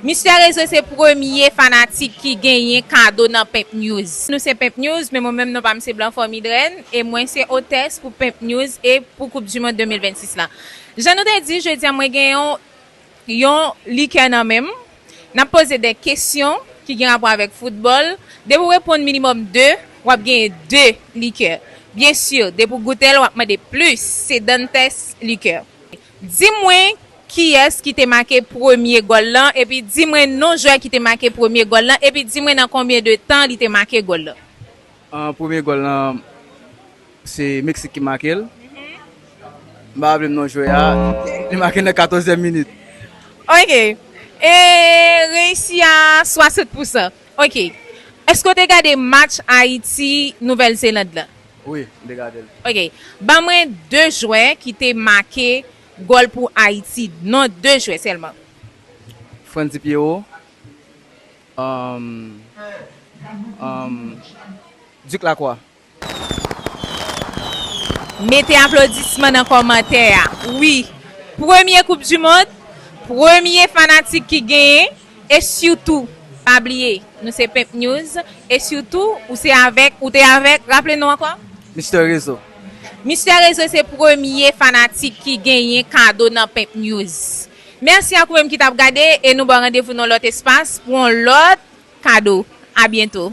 Mister Reze se premye fanatik ki genyen kado nan Pimp News. Nou se Pimp News men mwen menm non pam se Blanfort Midrène e mwen se otès pou Pimp News e pou koup du mond 2026 lan. Jan nou te di jodi a mwen gen yon yon likè nan menm nap poze de kesyon ki gen rapò avèk foutbòl depi ou reponn minimòm 2 wap genyen 2 likè byen sur depi ou goutel wap mande plus se Dantès likè. Di mwen kiyès ki te make premye gòl lan epi di mwen non jwè ki te make premye gòl lan epi di mwen nan konbyen de tan li te make gòl lan. Premye gòl lan se Meksik ki make l. M pa raple m non jwè a. Li make nan katòzyèm minit. Ok. E reyisi a 60 pousan. Ok. Èske w te gade match Ayiti, Nouvèl Zeland lan? Wi, m te gade l. Ok, ban mwen 2 jwè ki te make gòl pou Ayiti, non 2 jwè sèlman. Frantzy Pierrot, Duc Lacroix. Mete aplodisman nan kòmantè a wi. Premye koup du mond, premye fanatik ki genyen. E sitou pa bliye nou se Pimp News e sitou ou se avèk ou te avèk raple nou ankò? Mister Rezo. Mister Rezo se premye fanatik ki genyen kado nan Pimp News. Mèsi ak ou menm ki tap gade e nou baw randevou nan yon lòt espas pou yon lòt kado. A byento.